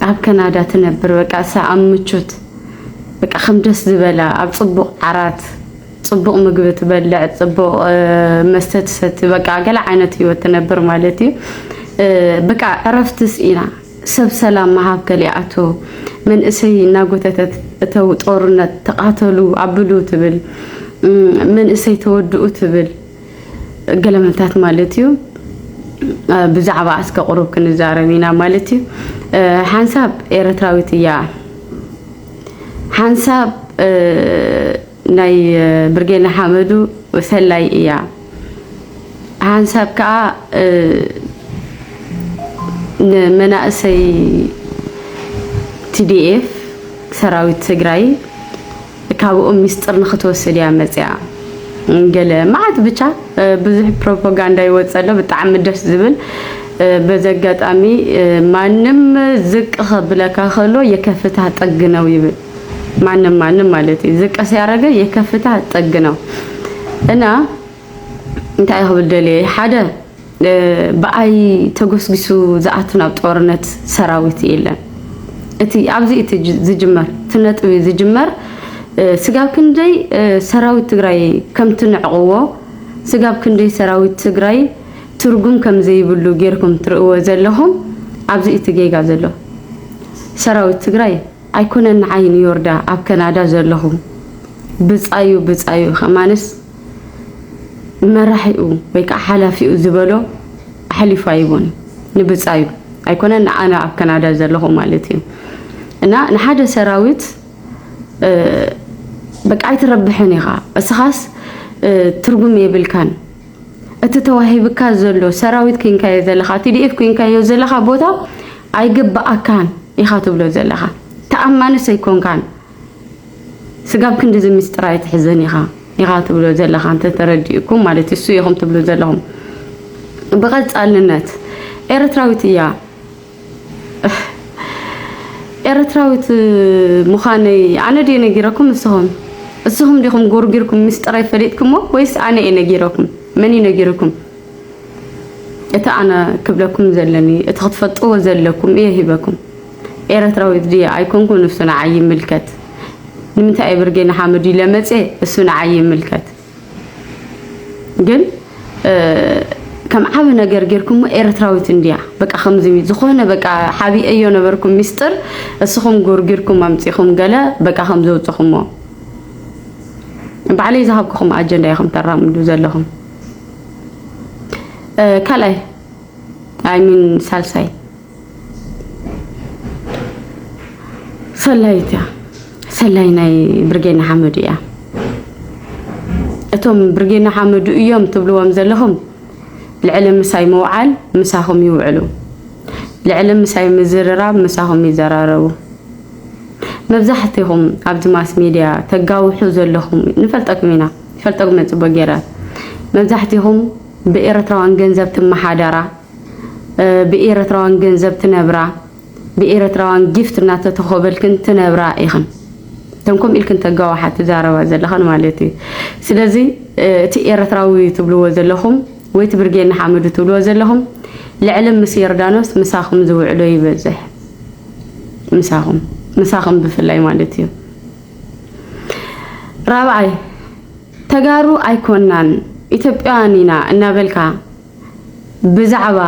ኣብ ከናዳ ትነብር በቃ እሳ ኣብ ምቾት በቃ ከም ደስ ዝበላ ኣብ ፅቡቅ ዓራት ፅቡቅ ምግቢ ትበልዕ ፅቡቅ መስተ ትሰቲ በቃ ገለ ዓይነት ህይወት ትነብር ማለት እዩ በቃ ዕረፍቲ ስኢና ሰብ ሰላም መሃብ ከሊኣቶ መንእሰይ እናጎተተት እተው ጦርነት ተቃተሉ ኣብሉ ትብል መንእሰይ ተወድኡ ትብል ገለመልታት ማለት እዩ ብዛዕባ እስከ ቁሩብ ክንዛረብ ኢና ማለት እዩ ሓንሳብ ኤረትራዊት እያ ሓንሳብ ናይ ብርጌድ ንሓመዱ ሰላይ እያ ሓንሳብ ከዓ ንመናእሰይ ቲዲኤፍ ሰራዊት ትግራይ ካብኦም ሚስጥር ንክትወስድ እያ መፅኣ ገለ መዓት ብቻ ብዙሕ ፕሮፓጋንዳ ይወፅ ኣሎ ብጣዕሚ ደስ ዝብል በዚ ኣጋጣሚ ማንም ዝቅ ከብለካ ከሎ የከፍታ ጥግ ነው ይብል ማንም ማንም ማለት እዩ ዝቅ ሲያደረገ የከፍታ ጥግ ነው እና እንታይ ክብል ደልየ ሓደ ብኣይ ተጎስጊሱ ዝኣቱ ናብ ጦርነት ሰራዊት የለን። እቲ ኣብዚ እቲ ዝጅመር እቲ ነጥቢ ዝጅመር ስጋብ ክንደይ ሰራዊት ትግራይ ከም ትንዕቕዎ ስጋብ ክንደይ ሰራዊት ትግራይ ትርጉም ከም ዘይብሉ ጌርኩም ትርእዎ ዘለኹም ኣብዚ እቲ ጌጋ ዘሎ ሰራዊት ትግራይ ኣይኮነን ንዓይ ንዮርዳ ኣብ ከናዳ ዘለኹ ብጻዩ ብጻዩ ከማንስ መራሒኡ ወይ ከዓ ሓላፊኡ ዝበሎ ኣሕሊፉ ኣይቦን ንብፃዩ ኣይኮነ ንኣነ ኣብ ከናዳ ዘለኹ ማለት እዩ እና ንሓደ ሰራዊት በቃ ኣይትረብሕን ኢኻ እስኻስ ትርጉም የብልካን እቲ ተዋሂብካ ዘሎ ሰራዊት ኮንካዮ ዘለኻ ቲዲኤፍ ኮንካዮ ዘለኻ ቦታ ኣይግብኣካን ኢኻ ትብሎ ዘለኻ ተኣማንስ ኣይኮንካን ስጋብ ክንድዚ ምስጢር ኣይትሕዘን ኢኻ ኢኻ ትብሎ ዘለኻ እንተ ተረዲኡኩም ማለት እሱ ኢኹም ትብሉ ዘለኹም ብቐጻልነት ኤርትራዊት እያ ኤርትራዊት ምዃነይ ኣነ ድየ ነጊረኩም እስኹም እስኹም ዲኹም ጎርጊርኩም ምስጢረይ ፈሊጥኩሞ ወይስ ኣነ እየ ነጊረኩም መን እዩ ነጊርኩም እቲ ኣነ ክብለኩም ዘለኒ እቲ ክትፈልጥዎ ዘለኩም እየ ሂበኩም ኤረትራዊት ድየ ኣይኮንኩን እሱ ንዓይ ይምልከት ንምንታይ እየ ብርጌ ንሓመዱ ኢለ መጽየ እሱ ንዓይ ይምልከት ግን ከም ዓቢ ነገር ጌርኩሞ ኤርትራዊት እንድያ በቃ ከምዚ ዝኾነ በቃ ሓቢአዮ ነበርኩ ሚስጥር እስኹም ጎርጊርኩም ኣምጺኹም ገለ በቃ ከም ዘውጽኹሞ ባዕለይ ዝሃብኩኹም ኣጀንዳ ኢኹም ተራምዱ ዘለኹም ካልኣይ ኣይሚን ሳልሳይ ሰላይት እያ ሰላይ ናይ ብርጌድ ንሓመዱ እያ እቶም ብርጌድ ንሓመዱ እዮም ትብልዎም ዘለኹም ልዕሊ ምሳይ ምውዓል ምሳኹም ይውዕሉ ልዕሊ ምሳይ ምዝርራብ ምሳኹም ይዘራረቡ መብዛሕትኹም ኣብዚ ማስ ሚድያ ተጋውሑ ዘለኹም ንፈልጠኩም ኢና ፈልጠኩም ፅቡቅ ገይረ መብዛሕትኹም ብኤርትራውያን ገንዘብ ትመሓደራ ብኤረትራዋን ገንዘብ ትነብራ ብኤረትራዋን ጊፍት እናተተኮበልክን ትነብራ ኢኽን እተን ከምኡ ኢልክን ተጋዋሓ ትዛረባ ዘለኽን ማለት እዩ ስለዚ እቲ ኤረትራዊ ትብልዎ ዘለኹም ወይ እቲ ብርጌ ንሓመዱ ትብልዎ ዘለኹም ልዕሊ ምስ የርዳኖስ ምሳኹም ዝውዕሎ ይበዝሕ ምሳኹም ምሳኹም ብፍላይ ማለት እዩ ራብዓይ ተጋሩ ኣይኮናን ኢትዮጵያውያን ኢና እናበልካ ብዛዕባ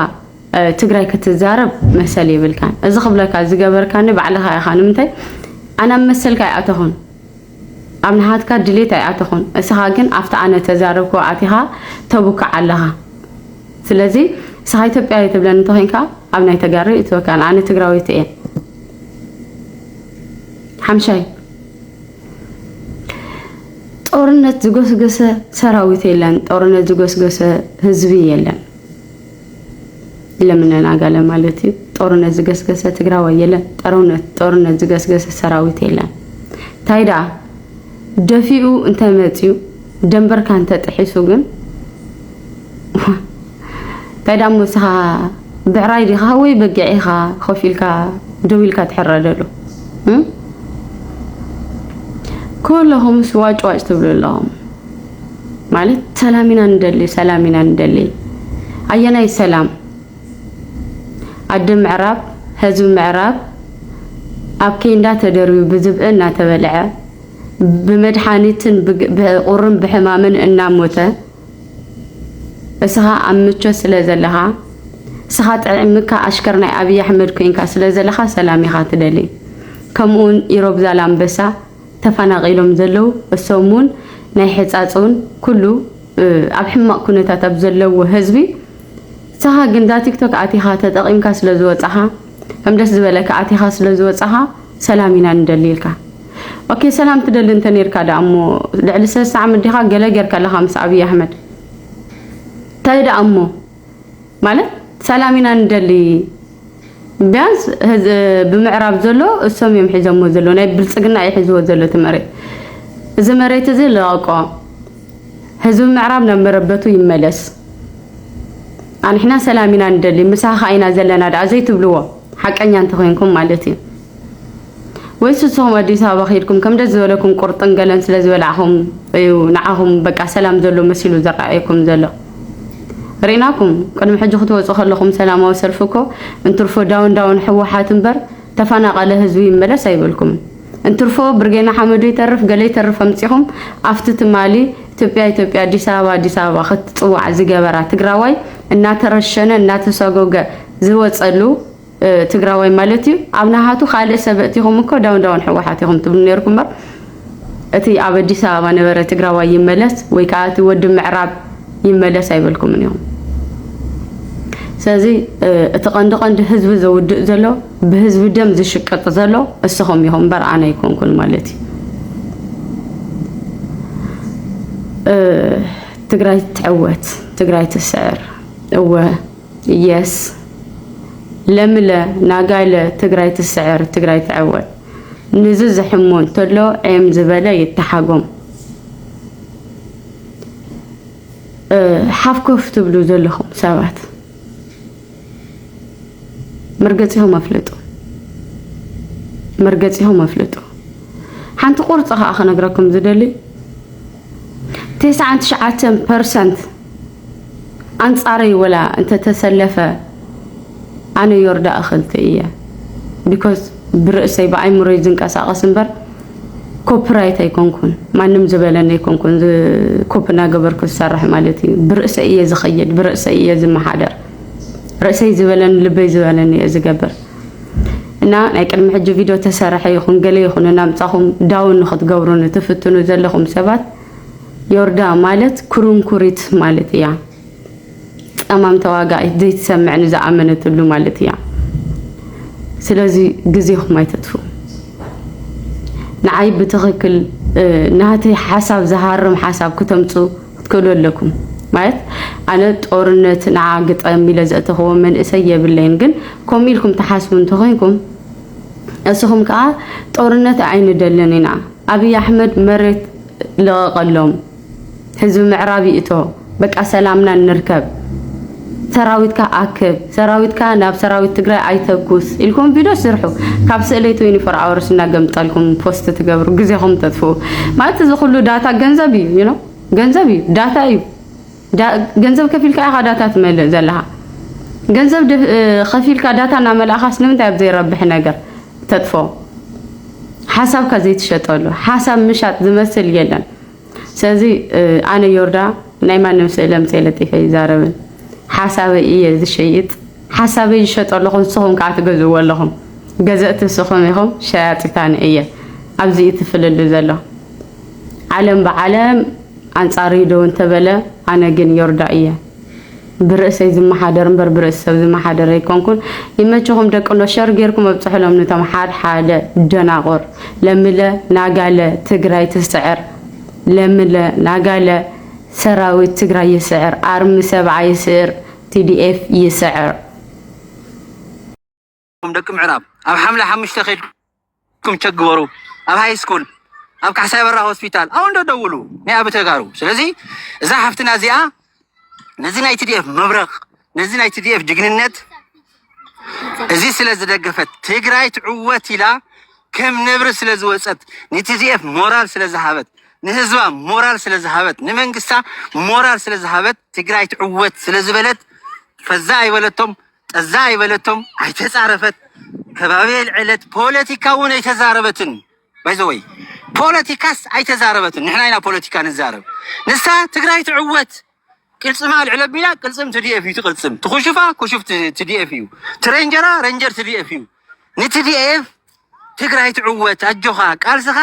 ትግራይ ክትዛረብ መሰል የብልካን። እዚ ክብለካ ዝገበርካኒ ባዕልኻ ኢኻ። ንምንታይ ኣነ ኣብ መሰልካ ኣይኣተኹን፣ ኣብ ንሃትካ ድሌት ኣይኣተኹን። እስኻ ግን ኣብቲ ኣነ ተዛረብኮ ኣቲኻ ተቡክዕ ኣለኻ። ስለዚ እስኻ ኢትዮጵያ ትብለኒ እንተኾይንካ ኣብ ናይ ተጋሪ እትወካን ኣነ ትግራዊት እየ ሓምሻይ ጦርነት ዝጎስገሰ ሰራዊት የለን፣ ጦርነት ዝጎስገሰ ህዝቢ የለን። ለምነን አጋለ ማለት እዩ። ጦርነት ዝገስገሰ ትግራዋይ የለን፣ ጦርነት ዝገስገሰ ሰራዊት የለን። እንታይ ደኣ ደፊኡ እንተመፅዩ ደንበርካ እንተጥሒሱ ግን ታይ ዳሞ ንስኻ ብዕራይ ዲኻ ወይ በጊዕ ኢኻ ኮፍ ኢልካ ደው ኢልካ ትሕረደሉ እ ኩለኹምስ ዋጭ ዋጭ ትብሉ ኣለኹም ማለት ሰላም ኢና ንደሊ ሰላም ኢና ንደሊ ኣየናይ ሰላም ኣደ ምዕራብ ህዝቢ ምዕራብ ኣብ ኬንዳ ተደርብዩ ብዝብኢ እናተበልዐ ብመድሓኒትን ብቁርን ብሕማምን እናሞተ እስኻ ኣብ ምቾት ስለ ዘለኻ እስኻ ጥዕምካ ኣሽከር ናይ ኣብይ ኣሕመድ ኮይንካ ስለ ዘለኻ ሰላም ኢኻ ትደሊ ከምኡውን ኢሮብ ዛላምበሳ ተፈናቂሎም ዘለው እሶም እውን ናይ ሕፃፅ እውን ኩሉ ኣብ ሕማቅ ኩነታት ኣብ ዘለዎ ህዝቢ እስኻ ግን እዛ ቲክቶክ ኣቲኻ ተጠቂምካ ስለ ዝወፃኻ ከም ደስ ዝበለካ ኣቲኻ ስለ ዝወፃኻ ሰላም ኢና ንደልልካ ኦኬ ሰላም ትደሊ እንተ ኔርካ ደኣ እሞ ልዕሊ ሰለስተ ዓመት ዲኻ ገለ ጌርካ ኣለኻ ምስ ኣብይ ኣሕመድ እንታይ ደኣ እሞ ማለት ሰላም ኢና ንደሊ ቢያንስ ብምዕራብ ዘሎ እሶም እዮም ሒዞሞ ዘሎ ናይ ብልፅግና እዩ ሒዝዎ ዘሎ እቲ መሬት እዚ መሬት እዚ ለቐቆ ህዝቢ ምዕራብ ናብ መረበቱ ይመለስ ኣንሕና ሰላም ኢና ንደሊ ምሳኻ ኢና ዘለና ደኣ ዘይትብልዎ ሓቀኛ እንተኮይንኩም ማለት እዩ ወይስ ንስኹም ኣዲስ ኣበባ ከይድኩም ከም ደስ ዝበለኩም ቁርጥን ገለን ስለ ዝበላዕኹም እዩ ንዓኹም በቃ ሰላም ዘሎ መሲሉ ዝረኣየኩም ዘሎ? ርኢናኩም ቅድሚ ሕጂ ክትወጹ ከለኹም ሰላማዊ ሰልፊ እኮ እንትርፎ ዳውን ዳውን ሕወሓት እምበር ተፈናቐለ ህዝቢ ይመለስ ኣይበልኩምን። እንትርፎ ብርጌ ንሓመዱ ይተርፍ ገለ ይተርፍ ኣምጺኹም ኣብቲ ትማሊ ኢትዮጵያ ኢትዮጵያ ኣዲስ ኣበባ ኣዲስ ኣበባ ክትጽዋዕ ዝገበራ ትግራዋይ እናተረሸነ እናተሰጎገ ዝወጸሉ ትግራዋይ ማለት እዩ ኣብ ናሃቱ ካልእ ሰብ እቲኹም እኮ ዳውን ዳውን ሕወሓት ኢኹም ትብሉ ነርኩም እምበር እቲ ኣብ ኣዲስ ኣበባ ነበረ ትግራዋይ ይመለስ ወይ ከዓ እቲ ወዲ ምዕራብ ይመለስ ኣይበልኩምን ኢኹም ስለዚ እቲ ቀንዲ ቀንዲ ህዝቢ ዘውድእ ዘሎ ብህዝቢ ደም ዝሽቅጥ ዘሎ እስኹም ኢኹም እምበር ኣነ ኣይኮንኩን ማለት እዩ ትግራይ ትዕወት ትግራይ ትስዕር እወ የስ ለምለ ናጋይለ ትግራይ ትስዕር ትግራይ ትዕወት ንዚ ዝሕሞ እንተሎ ዔም ዝበለ ይተሓጎም ሓፍኮፍ ትብሉ ዘለኹም ሰባት መርገፂኹም ኣፍልጡ መርገፂኹም ኣፍልጡ ሓንቲ ቁርፂ ከዓ ክነግረኩም ዝደሊ ተስዓን ትሽዓተን ፐርሰንት ኣንጻረይ ወላ እንተተሰለፈ ኣነ ዮርዳእ እክልቲ እየ ቢኮዝ ብርእሰይ ብኣይምሮይ ዝንቀሳቀስ እምበር ኮፒራይት ኣይኮንኩን ማንም ዝበለኒ ኣይኮንኩን ኮፒ እናገበርኩ ዝሰርሕ ማለት እዩ ብርእሰይ እየ ዝኸይድ ብርእሰይ እየ ዝመሓደር ርእሰይ ዝበለኒ ልበይ ዝበለኒ እየ ዝገብር እና ናይ ቅድሚ ሕጂ ቪድዮ ተሰረሐ ይኹን ገለ ይኹን እናምጻኹም ዳውን ንክትገብሩኒ ትፍትኑ ዘለኹም ሰባት ዮርዳ ማለት ኩርንኩሪት ማለት እያ። ጸማም ተዋጋኢት ዘይትሰምዕ ንዝኣመነትሉ ማለት እያ። ስለዚ ግዜኹም ኣይተጥፍኡ። ንዓይ ብትኽክል ናተይ ሓሳብ ዝሃርም ሓሳብ ክተምፁ ክትክእሉ ኣለኩም ማለት ኣነ ጦርነት ንዓ ግጠም ኢለ ዘእተኽዎ መንእሰይ የብለይን ግን ከምኡ ኢልኩም ትሓስቡ እንተኮይንኩም እስኹም ከዓ ጦርነት ኣይንደልን ኢና ኣብይ ኣሕመድ መሬት ልቐቐሎም ህዝቢ ምዕራብ ይእቶ በቃ ሰላምና ንርከብ ሰራዊትካ ኣክብ ሰራዊትካ ናብ ሰራዊት ትግራይ ኣይተኩስ ኢልኩም ቪድዮ ስርሑ ካብ ስእለይ ትወኒ ፎር ኣወርስ እናገምጠልኩም ፖስት ትገብሩ ግዜኹም ተጥፍኡ ማለት እዚ ኩሉ ዳታ ገንዘብ እዩ ዩ ገንዘብ እዩ ዳታ እዩ ገንዘብ ከፊልካ ኢኻ ዳታ ትመልእ ዘለኻ ገንዘብ ከፊልካ ዳታ እናመላእኻስ ንምንታይ ኣብ ዘይረብሕ ነገር ተጥፎ ሓሳብካ ዘይትሸጠሉ ሓሳብ ምሻጥ ዝመስል የለን ስለዚ ኣነ ዮርዳ ናይ ማንም ስእለ ምስ የለጢፈ ይዛረብን ሓሳበይ እየ ዝሸይጥ ሓሳበይ ይሸጦ ኣለኹ ንስኹም ከዓ ትገዝእዎ ኣለኹም ገዘእቲ ንስኹም ኢኹም ሸያጢታን እየ ኣብዚ እዩ ትፍልልዩ ዘሎ ዓለም ብዓለም ኣንጻርይ ደው እንተበለ ኣነ ግን ዮርዳ እየ ብርእሰይ ዝመሓደር እምበር ብርእሲ ሰብ ዝመሓደር ኣይኮንኩን። ይመችኹም ደቅኖ ሸር ጌርኩም ኣብጽሕሎም ንቶም ሓድ ሓደ ደናቑር ለምለ ናጋለ ትግራይ ትስዕር ለምለ ናጋለ ሰራዊት ትግራይ ይስዕር ኣርሚ ሰብዓ ይስዕር ቲዲኤፍ ይስዕር። ም ደቂ ምዕራብ ኣብ ሓምለ ሓሙሽተ ከድኩም ቸክ ግበሩ ኣብ ሃይ ስኩል ኣብ ካሕሳይ በራ ሆስፒታል ኣብ እንዶ ደውሉ ናይ ኣብ ተጋሩ ስለዚ እዛ ሓፍትና እዚኣ ነዚ ናይ ትዲኤፍ መብረቅ ነዚ ናይ ትዲኤፍ ጅግንነት እዚ ስለ ዝደገፈት ትግራይ ትዕወት ኢላ ከም ነብሪ ስለ ዝወፀት ንትዲኤፍ ሞራል ስለ ዝሃበት ንህዝባ ሞራል ስለ ዝሃበት ንመንግስታ ሞራል ስለ ዝሃበት ትግራይ ትዕወት ስለ ዝበለት ፈዛ ኣይበለቶም ጠዛ ኣይበለቶም፣ ኣይተጻረፈት፣ ከባቢ ኣልዐለት፣ ፖለቲካ እውን ኣይተዛረበትን። ባይዘወይ ፖለቲካስ ኣይተዛረበትን። ንሕና ኢና ፖለቲካ ንዛረብ። ንሳ ትግራይ ትዕወት ቅልፅማ ኣልዕለ ቢላ ቅልፅም ትዲኤፍ እዩ ትቅልፅም፣ ትኩሽፋ ኩሹፍ ትዲኤፍ እዩ፣ ትሬንጀራ ረንጀር ትዲኤፍ እዩ። ንቲዲኤፍ ትግራይ ትዕወት ኣጆኻ ቃልስኻ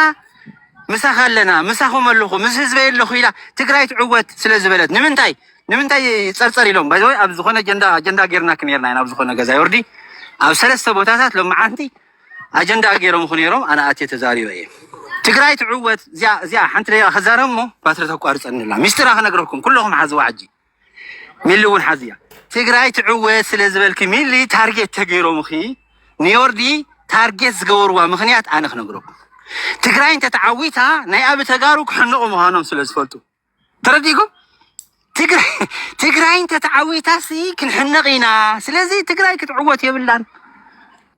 ምሳኻ ኣለና ምሳኹም ኣለኹ ምስ ህዝበይ ኣለኹ ኢላ ትግራይ ትዕወት ስለ ዝበለት ንምንታይ ንምንታይ ይፀርፀር ኢሎም ባይዘወ ኣብ ዝኾነ ጀንዳ ኣጀንዳ ጌርናክም ርና ኢና ኣብ ዝኾነ ገዛ ይወርዲ ኣብ ሰለስተ ቦታታት ሎመዓንቲ ኣጀንዳ ገይሮምኹ ነይሮም ኣነ ኣትየ ተዛሪበ እየ ትግራይ ትዕወት እዚኣ ሓንቲ ደቂቃ ክዛረብ እሞ ባትሪ ተቋርፀኒ ኣላ ሚስጢራ ክነግረኩም ኩለኹም ሓዝዋ ሕጂ ሚሊ እውን ሓዚያ ትግራይ ትዕወት ስለ ዝበልኪ ሚሊ ታርጌት ተገይሮምኺ ንዮርዲ ታርጌት ዝገበርዋ ምኽንያት ኣነ ክነግረኩም ትግራይ እንተተዓዊታ ናይ ኣብ ተጋሩ ክሕንቑ ምዃኖም ስለ ዝፈልጡ ተረዲእኩም ትግራይ እንተተዓዊታሲ ክንሕነቕ ኢና ስለዚ ትግራይ ክትዕወት የብላን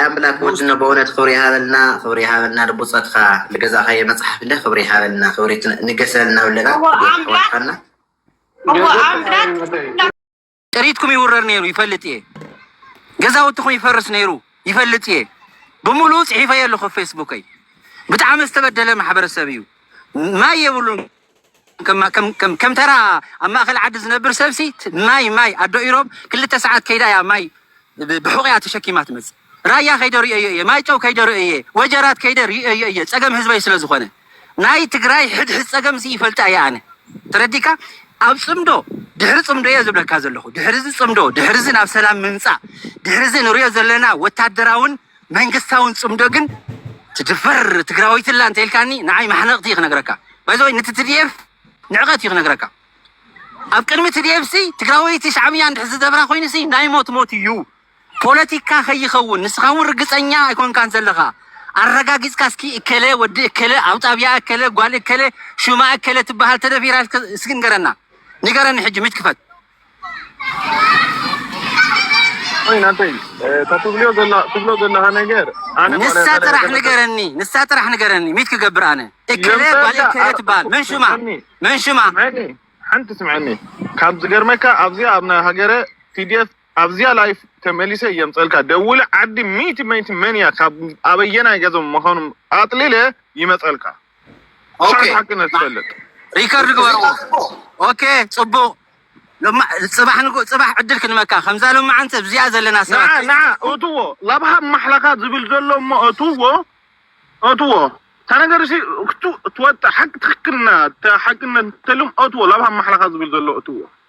ኣምላክ ወድነ በእውነት ክብሪ ይሃበልና ክብሪ ይሃበልና ንብፆትካ ልገዛካየ መፅሓፍ እንደ ክብሪ ይሃበልና ክብሪ ንገሰልና ውለና ጥሪትኩም ይውረር ነይሩ ይፈልጥ እየ ገዛውትኩም ይፈርስ ነይሩ ይፈልጥ እየ ብምሉእ ፅሒፈ ኣለኩ ፌስቡከይ ብጣዕሚ ዝተበደለ ማሕበረሰብ እዩ ማይ የብሉን ከም ተራ ኣብ ማእከል ዓዲ ዝነብር ሰብሲ ማይ ማይ ኣዶ ኢሮብ ክልተ ሰዓት ከይዳ እያ ማይ ብሑቂኣ ተሸኪማ ትመጽእ። ራያ ከይደ ሪኤዮ እየ ማይጨው ከይደ ሪኤዮ እየ ወጀራት ከይደ ሪኤዮ እየ ጸገም ህዝበይ ስለ ዝኮነ ናይ ትግራይ ሕድሕድ ጸገም ሲ ይፈልጣ እየ ኣነ ተረዲካ ኣብ ጽምዶ ድሕሪ ጽምዶ እየ ዝብለካ ዘለኩ ድሕሪ እዚ ጽምዶ ድሕሪ እዚ ናብ ሰላም ምምጻእ ድሕሪ እዚ ንሪኦ ዘለና ወታደራውን መንግስታውን ጽምዶ ግን ትድፈር ትግራወይቲ ኣላ እንተኢልካኒ ንዓይ ማሕነቕቲ እዩ ክነግረካ ባይዘወይ ንቲ ትድኤፍ ንዕቐት እዩ ክነግረካ ኣብ ቅድሚ ትድኤፍ ሲ ትግራወይቲ ሻዕብያ እንድሕ ዝደብራ ኮይኑ ሲ ናይ ሞት ሞት እዩ ፖለቲካ ከይኸውን ንስኻ እውን ርግጸኛ ኣይኮንካን ዘለኻ ኣረጋጊጽካ እስኪ እከለ ወዲ እከለ ኣብ ጣብያ እከለ ጓል እከለ ሹማ እከለ ትበሃል ተደፊራ እስኪ ንገረና ንገረኒ ሕጂ ምጭ ክፈት ንሳ ጥራሕ ንገረኒ ንሳ ጥራሕ ንገረኒ ሚት ክገብር ኣነ እከለ ጓል እከለ ትበሃል መን ሹማ መን ሹማ ሓንቲ ስምዐኒ ካብ ዝገርመካ ኣብዚኣ ኣብ ናይ ሃገረ ቲዲኤፍ ኣብዚኣ ላይፍ ተመሊሰ የምፀልካ ደውለ ዓዲ ሚእቲ ሚእቲ መን እያ ካብ ኣበየናይ ገዞም ምዃኑ ኣጥሊለ ይመፀልካ ኦኬ ሪከርድ ግበርዎ። ኦኬ ጽቡቅ ጽባሕ ንጎ ጽባሕ ዕድል ክንመካ ከምዛ ሎማዓንቲ ኣብዚኣ ዘለና ሰባት ንዓ ንዓ እትዎ ላብሃብ ማሕላኻ ዝብል ዘሎ እሞ እትዎ እትዎ ታነገርሲ ክትወጣ ሓቂ ትክክልና ሓቅነት ተልም እትዎ ላብሃብ ማሕላኻ ዝብል ዘሎ እትዎ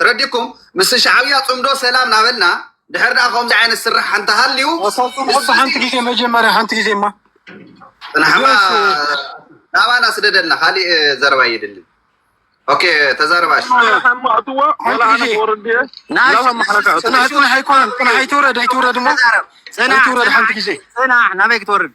ተረዲኩም ምስ ሻዕብያ ፅምዶ ሰላም ናበልና ድሕር ድኣ ከምዚ ዓይነት ስራሕ እንተሃልዩ ሓንቲ ግዜ መጀመርያ ሓንቲ ግዜ ማ ፅናሕማ ናባና ስደደልና ካሊእ ዘረባ ይድሊ ኦኬ ተዛረባሽ ፅናሕ ኣይኮነን ፅናሕ ኣይትውረድ ኣይትውረድ ሞ ኣይትውረድ ሓንቲ ግዜ ፅናሕ ናበይ ክትወርድ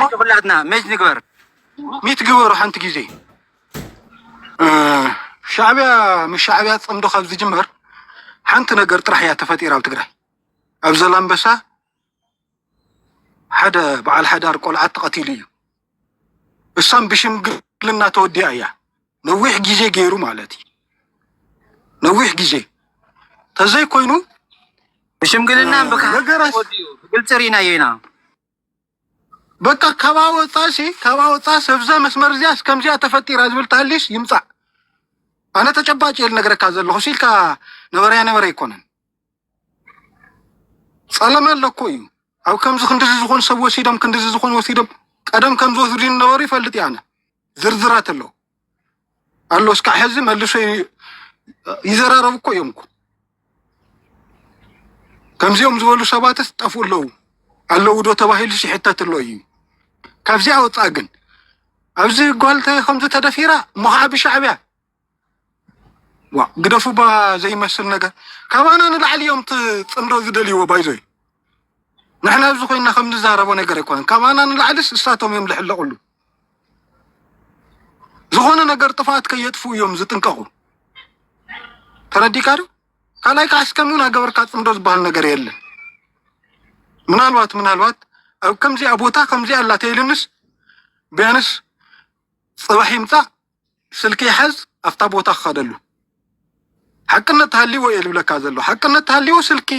እስኪ ኩላትና መጅ ንግበር ሚት ግበሩ ሓንቲ ግዜ ሻዕቢያ ምስ ሻዕቢያ ፅምዶ ካብ ዝጅመር ሓንቲ ነገር ጥራሕ እያ ተፈጢራ ኣብ ትግራይ ኣብ ዘላንበሳ ሓደ በዓል ሓዳር ቆልዓ ተቐቲሉ እዩ እሳም ብሽምግልና ተወዲያ እያ ነዊሕ ግዜ ገይሩ ማለት እዩ ነዊሕ ግዜ ተዘይ ኮይኑ ብሽምግልና ብግልፂ ርኢናዮ ኢና በቃ ካብኣ ወፃእ ሲ ካብኣ ወፃእ ሰብዛ መስመር እዚኣ እስከምዚኣ ተፈጢራ ዝብል ተሃልዩስ ይምፃእ ኣነ ተጨባጭ እየ ልነግረካ ዘለኹ ሲልካ ነበረያ ነበረ ኣይኮነን ፀለመ ኣለኮ እዩ ኣብ ከምዚ ክንዲዚ ዝኾኑ ሰብ ወሲዶም ክንዲዚ ዝኾኑ ወሲዶም ቀደም ከም ዝወስዱ ዝነበሩ ይፈልጥ እየ ኣነ ዝርዝራት ኣሎ ኣሎ እስካዕ ሕዚ መልሶ ይዘራረብ እኮ እዮም እኮ ከምዚኦም ዝበሉ ሰባት ጠፍኡ ኣለዉ ኣለዉ ዶ ተባሂሉ ይሕተት ኣሎ እዩ። ካብዚኣ ወፃእ ግን ኣብዚ ጓልተ ከምዚ ተደፊራ እሞ ከዓ ብሻዕቢያ ዋ ግደፉ ባ ዘይመስል ነገር ካባና ንላዕሊ እዮም ፅምዶ ዝደልይዎ ባይዞ ንሕና ኣብዚ ኮይና ከምንዛረቦ ነገር ኣይኮነን። ካባና ንላዕሊስ እሳቶም እዮም ዝሕለቁሉ። ዝኾነ ነገር ጥፍኣት ከየጥፉ እዮም ዝጥንቀቑ። ተረዲካ ዶ? ካልኣይ ከዓ እስከም እውን ኣገበርካ ፅምዶ ዝበሃል ነገር የለን። ምናልባት ምናልባት ኣብ ከምዚኣ ቦታ ከምዚኣ ኣላ ተይልንስ ቢያንስ ፅባሕ ይምፃእ ስልከይ ሓዝ ኣብታ ቦታ ክኸደሉ ሓቅነት ተሃልይዎ እየ ዝብለካ ዘሎ ሓቅነት ተሃልይዎ ስልኪ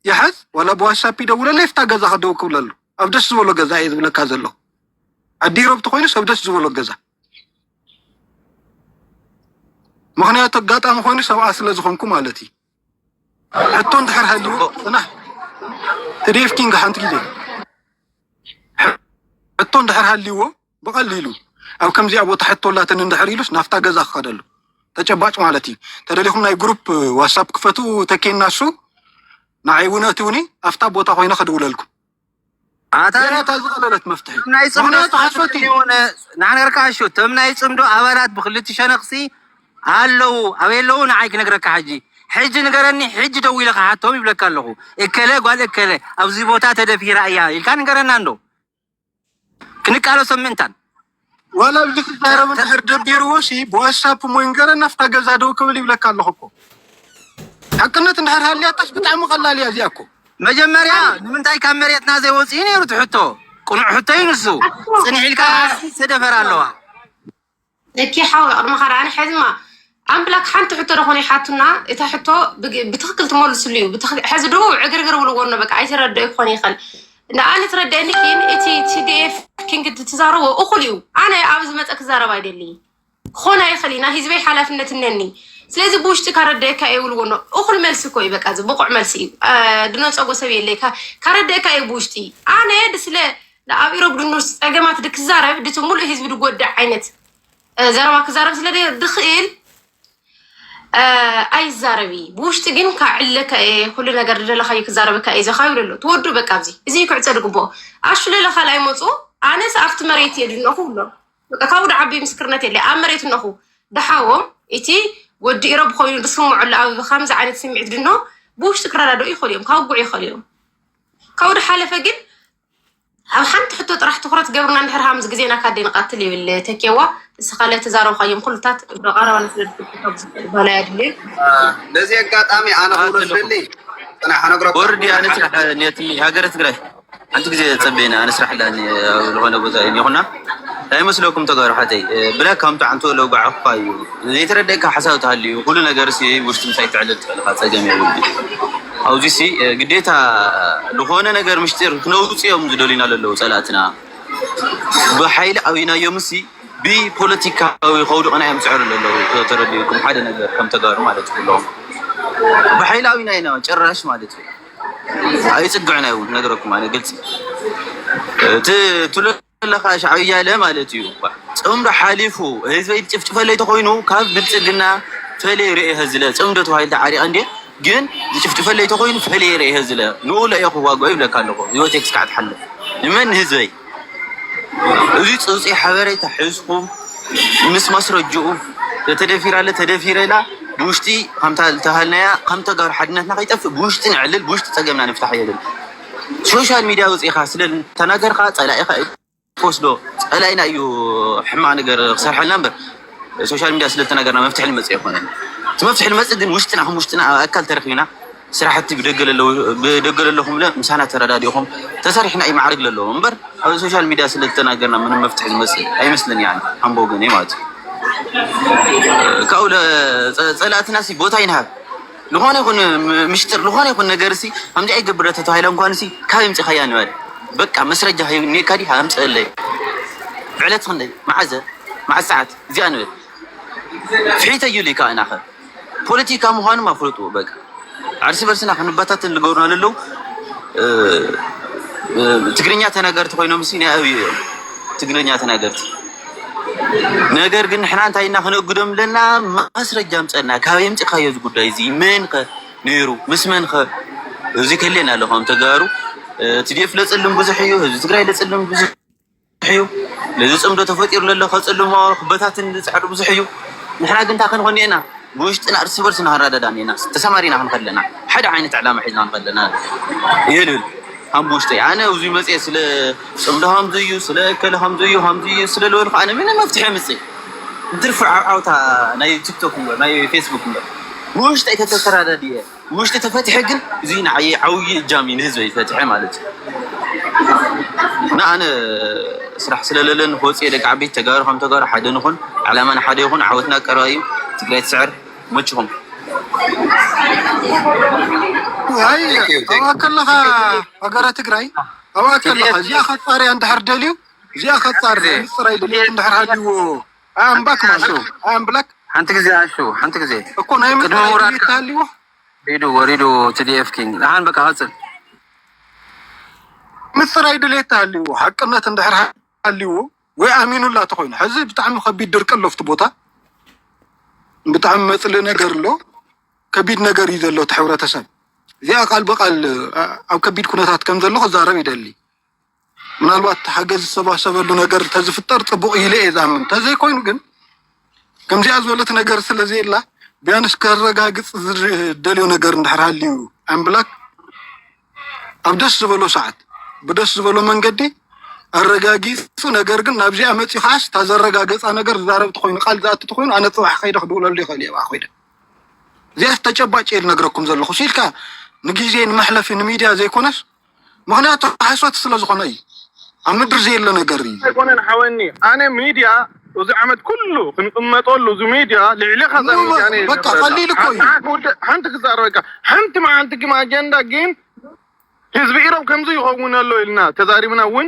ይሓዝ ዋላ ብዋትሳፕ ይደውለለይ ፍታ ገዛ ክደው ክብለሉ ኣብ ደስ ዝበሎ ገዛ እየ ዝብለካ ዘሎ ዓዲ ረብቲ ኮይኑ ሰብ ደስ ዝበሎ ገዛ ምክንያቱ ኣጋጣሚ ኮይኑ ሰብኣ ስለ ዝኾንኩ ማለት እዩ ሕቶ እንድሕር ሃልይዎ ፅናሕ ትዴፍ ኪንግ ሓንቲ ግዜ ሕቶ እንድሕር ሃልይዎ ብቐሊሉ ኣብ ከምዚኣ ቦታ ሕቶ ኣላትኒ እንድሕር ኢሉስ ናብታ ገዛ ክኸደሉ ተጨባጭ ማለት እዩ። ተደሊኹም ናይ ግሩፕ ዋትሳፕ ክፈቱ ተኬና እሱ ንዓይ እውን እትውኒ ኣብታ ቦታ ኮይነ ክድውለልኩም ኣታ ዝቐለለት መፍትሒ ናይ ፅምዶ ሓሶት ንዓነገርካ ኣሾ ተም ናይ ፅምዶ ኣባላት ብክልቲ ሸነኽሲ ኣለዉ ኣበይ ኣለዉ ንዓይ ክነግረካ ሕጂ ሕጂ ንገረኒ ሕጂ ደው ኢለ ክሓቶም ይብለካ ኣለኹ እከለ ጓል እከለ ኣብዚ ቦታ ተደፊራ እያ ኢልካ ንገረና እንዶ ክንቃለሶም ምእንታን ዋላ ኣብዚ ክዛረብ እንድሕር ደቢርዎ ሲ ብዋትሳፕ እሞ ይንገረና ኣብታ ገዛ ደው ክብል ይብለካ ኣለኹ እኮ ሓቅነት እንድሕር ሃልያታስ ብጣዕሚ ቀላል እያ እዚኣ እኮ መጀመርያ ንምንታይ ካብ መሬትና ዘይወፅኢ ነይሩ እቲ ሕቶ ቅኑዕ ሕቶ እዩ ንሱ ፅንሕ ኢልካ ትደፈር ኣለዋ እኪ ሓው ቅድመኻ ዳኣ ሕዝማ ኣምላክ ሓንቲ ሕቶ ደኾነ ይሓቱና እታ ሕቶ ብትክክል ትመልስሉ እዩ ሕዚ ዶ ዕግርግር ብልዎ ነ በቃ ኣይትረድኦ ክኾን ይኽእል ንኣነ ትረድአኒ ግን እቲ ቲዲኤፍ ኪንግ ትዛረቦ እኹል እዩ ኣነ ኣብ ዝመፀ ክዛረብ ኣይደሊ ክኾን ኣይኽእል እዩ ናይ ህዝበይ ሓላፍነት እነኒ ስለዚ ብውሽጢ ካረድአካ እየ ብልዎ ነ እኹል መልሲ እኮ እዩ በቃ እዚ ብቑዕ መልሲ እዩ ድነፀጎ ሰብ የለይ ካረድአካ እየ ብውሽጢ ኣነ ስለ ንኣብ ኢሮብ ድኑስ ፀገማት ድክዛረብ ድቲ ሙሉእ ህዝቢ ድጎዳእ ዓይነት ዘረባ ክዛረብ ስለ ድኽእል ኣይዛረብ እዩ ብውሽጢ ግን ካብ ዕለካ እየ ኩሉ ነገር ድደለካዩ ክዛረበካ እየ ዘካዩ ደሎ ትወዱ በቃ ኣብዚ እዚ ክዕፀ ድግብኦ ኣሹ ለለ ካልኣይ መፁ ኣነስ ኣብቲ መሬት እየ ድነኹ ብሎ በቃ ካብኡ ድዓቢ ምስክርነት የለ ኣብ መሬት እነኹ ድሓዎም እቲ ወዲ ኢሮብ ኮይኑ ድስምዑሉ ኣብ ከምዚ ዓይነት ስምዒት ድኖ ብውሽጢ ክረዳድኡ ይኽእሉ እዮም ካውጉዕ ይኽእሉ እዮም ካብኡ ድሓለፈ ግን ኣብ ሓንቲ ሕቶ ጥራሕ ትኩረት ገብርና እንድሕር ሃምዚ ግዜና ካደ ንቀትል ይብል ተኬዋ ንስኻ ለተዛረብካዮም ኩሉታት ብቀረባ ንስለዝበላ ያድልዩ ነዚ ኣጋጣሚ ኣነ ክብሎ ዝደሊ ወርድ ኣነ ስራሕ ኔትኒ ሃገረ ትግራይ ሓንቲ ግዜ ፀበየና ኣነ ስራሕ ኣለኒ ዝኾነ ቦታ ይኹና ታይ መስለኩም ተጋሩ ኣሓተይ ብላክ ከም ጣዕምቱ ለውጋዕ እኳ እዩ ዘይተረደኣካ ሓሳብ ተሃልዩ ኩሉ ነገርሲ ውሽጢ ምሳይ ተዕልል ትክእል ኢካ ፀገም የብሉን ኣብዙይሲ ግዴታ ልኮነ ነገር ምሽጢር ክነውፅ እዮም ዝደልዩና ለለው ፀላእትና ብሓይሊ ኣብይናዮምሲ ብፖለቲካዊ ከውድቅና እዮም ዝፅዕሩ ለለው ተረዲኡኩም ሓደ ነገር ከም ተጋሩ ማለት ኩሎም ብሓይሊ ኣብይናዮ ጭራሽ ማለት እዩ ኣይፅግዕን ኣዩ ነግረኩም ኣነ ግልፂ እቲ ትብሎ ዘለካ ሻዕብያ ኢለ ማለት እዩ ፅምዶ ሓሊፉ ህዝበይ ዝጭፍጭፈለይ ተኮይኑ ካብ ብልፅግና ፈልየ ሪኤ እየ ዝለ ፅምዶ ተባሂለ ተዓሪቀ እንድየ ግን ዝጭፍጭፈለይ ተኮይኑ ፈልየ ሪኤ እየ ዝለ ንኡ እለ እየ ክዋገኦ ይብለካ ኣለኩ ሂወተይ ክሳዕ ትሓልፍ ንመን ንህዝበይ እዚ ጽውጽይ ሓበሬታ ሒዝኩም ምስ ማስረጅኡ ተተደፊራ ኣለ ተደፊረ ኢላ ብውሽጢ ከምታ ዝተሃልናያ ከም ተጋሩ ሓድነትና ከይጠፍእ ብውሽጢ ነዕልል ብውሽጢ ጸገምና ንፍታሕ የብል ሶሻል ሚድያ ወጺእኻ ስለ ተናገርካ ጸላኢኻ እዩ ክወስዶ ጸላኢና እዩ ሕማቅ ነገር ክሰርሐልና እምበር ሶሻል ሚድያ ስለ ተናገርና መፍትሒ ልመጽእ ኣይኮነን እቲ መፍትሒ ልመጽእ ግን ውሽጥና ከም ውሽጥና ኣብ ኣካል ተረኺብና ስራሕቲ ብደገ ለለኹም ለ ምሳና ተረዳዲእኹም ተሰሪሕና እዩ ማዕርግ ለለዎ እምበር ኣብ ሶሻል ሚዲያ ስለዝተናገርና ምንም መፍትሒ ዝመፅእ ኣይመስልን ያ ኣምቦ ግን ማለት ካብኡ ፀላእትና ቦታ ይንሃብ ዝኾነ ይኹን ምሽጥር ዝኾነ ይኹን ነገር ሲ ከምዚ ኣይገብረ ተተባሂለ እንኳን ሲ ካብ ምፅኻያ ንበል በቃ መስረጃ ኔካ ዲ ኣምፅእለይ ዕለት ክንደይ መዓዘ መዓዝ ሰዓት እዚኣ ንበል ፍሒተዩልይ ከዓ ናኸ ፖለቲካ ምዃኑ ኣፍልጥዎ በቃ ዓርሲ በርስና ክንበታተን ልገብሩና ለለው ትግርኛ ተናገርቲ ኮይኖም ሲ ናይ ኣብዩ እዮም ትግርኛ ተናገርቲ ነገር ግን ንሕና እንታይ እና ክነእግዶም ኣለና ማስረጃ ምፀና ካብ የምፅካዮ እዚ ጉዳይ እዚ መን ከ ነይሩ ምስ መን ከ እዚ ከሌና ኣሎ ከም ተጋሩ እቲ ዴፍ ለፅልም ብዙሕ እዩ ህዝቢ ትግራይ ለፅልም ብዙሕ ብዙሕ እዩ ነዚ ጽምዶ ተፈጢሩ ለሎ ከጽልሞ ክበታትን ዝጽዕር ብዙሕ እዩ ንሕና ግን እንታይ ክንኾን ኔና ብውሽጥና እርስ በርስ ንሃራዳዳ ኔና ተሰማሪና ክንኸድ ለና ሓደ ዓይነት ዕላማ ሒዝና ንኸድ ለና ይህልህል ሃም ብውሽጠይ ኣነ እዚ መጽኤ ስለ ጽምዶ ሃምዚ እዩ ስለ እከለ ሃምዚ እዩ ሃምዚ እዩ ስለ ልበልኩ ኣነ ምንም መፍትሒ ምጽእ ብትርፊ ዓውዓውታ ናይ ቲክቶክ እምበር ናይ ፌስቡክ እምበር ብውሽጠይ ተተተራዳድየ ውሽጢ ተፈትሐ ግን እዙይ ንዓየ ዓብዪ እጃም እዩ ንህዝበይ ፈትሐ ማለት እዩ እና ኣነ ስራሕ ስለለለን ክወፅየ ደቂ ዓበይቲ ተጋሩ ከም ተጋሩ ሓደ ንኹን ዕላማና ሓደ ይኹን ዓወትና ቀረባ እዩ ትግራይ ትስዕር መችኹም ኣብኣ ከለኻ ሃገረ ትግራይ ኣብኣ ከለኻ እዚኣ ከፃርያ እንድሕር ደልዩ እዚኣ ከፃር ፅራይ ድልት እንድሕር ሃልዎ ኣምባክ ማለት ኣምብላክ ሓንቲ ግዜ ኣሹ ሓንቲ ግዜ እኮ ናይ ቅድሚ ምውራድ ታሊዎ ሪዱ ወሪዱ ቲዲኤፍ ኪንግ ንሓን በቃ ቀፅል ምፅራይ ድሌት ታሊዎ ሓቅነት እንድሕር ሃሊዎ ወይ ኣሚኑላ ተኮይኑ ሕዚ ብጣዕሚ ከቢድ ድርቂ ኣሎ ኣብቲ ቦታ ብጣዕሚ መፅሊ ነገር ኣሎ ከቢድ ነገር እዩ ዘሎ እቲ ሕብረተሰብ እዚኣ ቃል ብቃል ኣብ ከቢድ ኩነታት ከም ዘሎ ክዛረብ ይደሊ ምናልባት ሓገዝ ዝሰባሰበሉ ነገር እንተዝፍጠር ፅቡቅ ኢለ እየ ዝኣምን። እንተዘይኮይኑ ግን ከምዚኣ ዝበለት ነገር ስለዘየላ ቢያንስ ከረጋግፅ ዝደልዮ ነገር እንድሕር ሃልዩ ኣምላክ ኣብ ደስ ዝበሎ ሰዓት ብደስ ዝበሎ መንገዲ ኣረጋጊፁ ነገር ግን ናብዚኣ መፂኡ ከዓስ እታ ዘረጋገፃ ነገር ዝዛረብ ተኮይኑ ቃል ዝኣቱ ተኮይኑ ኣነ ፅባሕ ከይደ ክድውለሉ ይኽእል እየ ብኣ ኮይደ እዚኣ ተጨባጭ እየ ዝነግረኩም ዘለኹ ሲልካ ንግዜ ንመሕለፊ ንሚድያ ዘይኮነስ ምክንያቱ ሓሶት ስለ ዝኮነ እዩ ኣብ ምድሪ ዘየለ ነገር እዩ። ኣይኮነን ሓወኒ ኣነ ሚድያ እዚ ዓመት ኩሉ ክንቅመጠሉ እዚ ሚድያ ልዕሌካ እዛ ሚድያ ኣነ እየ ዝገብረላ ሓንቲ ክዛረበካ ሓንቲ መዓልቲ ግን ኣጀንዳ ግን ህዝቢ ኢሮብ ከምዚ ይከውን ኣሎ ኢልና ተዛሪብና ውን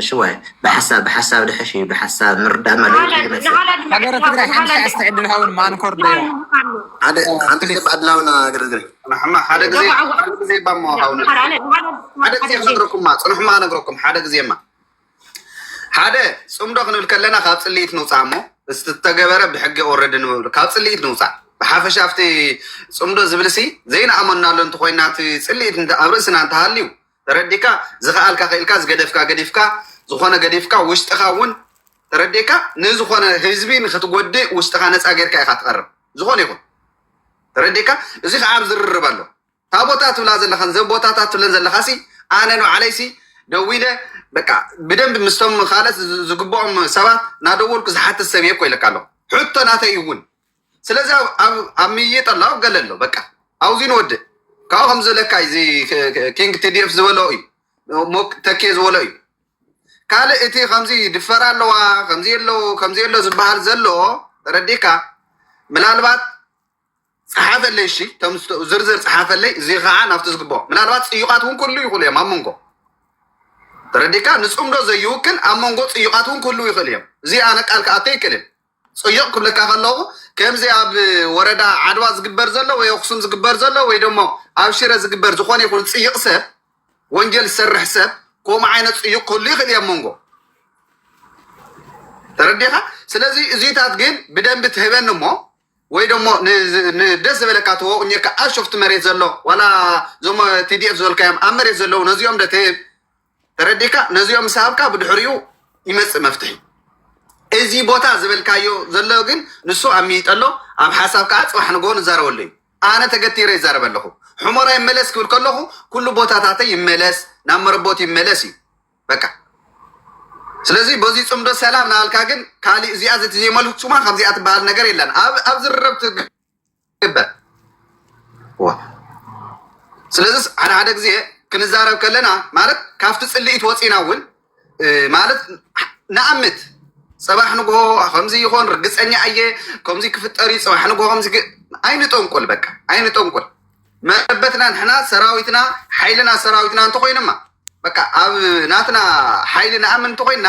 እሺ ዋይ ብሓሳብ ብሓሳብ ድሐሽ እዩ ብሓሳብ ምርዳእ መለ ሃገረ ትግራይ ሓንቲ ሸዓ ዝተዕድል ሃውን ማንኮር ዶ ሓንቲ ግዜ ብኣድላውና ግርግር ሓደ ግዜ ሓደ ግዜ ባሞ ሃውን ሓደ ግዜ ክነግረኩማ ፅንሑማ ክነግረኩም ሓደ ግዜማ ሓደ ፅምዶ ክንብል ከለና ካብ ፅልኢት ንውፃእ እሞ ዝተገበረ ብሕጊ ወረድ ንብል ካብ ፅልኢት ንውፃእ ብሓፈሻ ኣብቲ ፅምዶ ዝብልሲ ዘይንኣመናሉ እንተኮይና እቲ ፅልኢት ኣብ ርእስና እንተሃልዩ ተረዲካ ዝከኣልካ ክኢልካ ዝገደፍካ ገዲፍካ ዝኮነ ገዲፍካ ውሽጥካ እውን ተረዲካ ንዝኮነ ህዝቢ ንክትጎድእ ውሽጥካ ነፃ ገርካ ኢካ ትቀርብ ዝኮነ ይኩን ተረዲካ እዚ ከዓ ኣብ ዝርርብ ኣሎ ታቦታ ትብላ ዘለካ ዘቦታታት ትብለን ዘለካ ሲ ኣነ ንባዕለይ ሲ ደዊለ በቃ ብደንብ ምስቶም ካልኦት ዝግብኦም ሰባት ናደወልኩ ዝሓትት ሰብ እየ እኮ ኢለካ ኣለኩ ሕቶ ናተይ እውን ስለዚ ኣብ ምይይጥ ኣሎ ኣብ ገለ ኣሎ በቃ ኣብዙ ንወድእ ካብኡ ከም ዘለካ እዚ ኪንግ ቲዲኤፍ ዝበሎ እዩ ተኬ ዝበሎ እዩ ካልእ እቲ ከምዚ ድፈራ ኣለዋ ከምዚ ኣሎ ከምዚ ኣሎ ዝበሃል ዘሎ ረዲካ ምናልባት ፀሓፈለይ እሺ ዝርዝር ፀሓፈለይ እዚ ከዓ ናብቲ ዝግባኦ ምናልባት ፅዩቃት እውን ክህሉ ይኽእሉ እዮም ኣብ መንጎ ተረዲካ ንፅምዶ ዘይውክል ኣብ መንጎ ፅዩቃት እውን ክህሉ ይኽእሉ እዮም እዚ ኣነ ቃል ክኣቶ ይክእልን ጸዩቕ ክብለካ ከለኹ ከምዚ ኣብ ወረዳ ዓድዋ ዝግበር ዘሎ ወይ ኣኽሱም ዝግበር ዘሎ ወይ ደሞ ኣብ ሽረ ዝግበር ዝኾነ ይኹን ጽይቕ ሰብ ወንጀል ዝሰርሕ ሰብ ከምኡ ዓይነት ጽዩቕ ክህሉ ይኽእል እየ መንጎ ተረዲኻ ስለዚ እዚታት ግን ብደንቢ ትህበኒ እሞ ወይ ደሞ ደስ ዝበለካ ተወቕኘካ ኣብ ሾፍቲ መሬት ዘሎ ዋላ እዞም ቲዲኤፍ ዝበልካዮም ኣብ መሬት ዘለዉ ነዚኦም ደ ትህብ ተረዲካ ነዚኦም ምስ ሃብካ ብድሕሪኡ ይመፅእ መፍትሒ እዚ ቦታ ዝበልካዮ ዘሎ ግን ንሱ ኣብ ሚይጠ ኣሎ ኣብ ሓሳብ ከዓ ፅባሕ ንግሆ ንዛረበሉ እዩ ኣነ ተገቲረ ይዛረበ ኣለኹ ሕሞራ ይመለስ ክብል ከለኹ ኩሉ ቦታታተ ይመለስ ናብ መረቦት ይመለስ እዩ በቃ ስለዚ በዚ ፅምዶ ሰላም ናበልካ ግን ካሊእ እዚኣ ዘቲ ዘይመልሱማ ከምዚኣ ትበሃል ነገር የለን ኣብ ዝርረብ ይግበር ስለዚ ሓደ ሓደ ግዜ ክንዛረብ ከለና ማለት ካብቲ ፅልኢት ወፂና እውን ማለት ንኣምት ፅባሕ ንግሆ ከምዚ ይኾን ርግፀኛ እየ ከምዚ ክፍጠር እዩ ፅባሕ ንግሆ ከምዚ ኣይንጠንቁል በቃ ኣይንጠንቁል መረበትና ንሕና ሰራዊትና ሓይልና ሰራዊትና እንተኮይንማ በቃ ኣብ ናትና ሓይሊ ንኣምን እንተኮይንና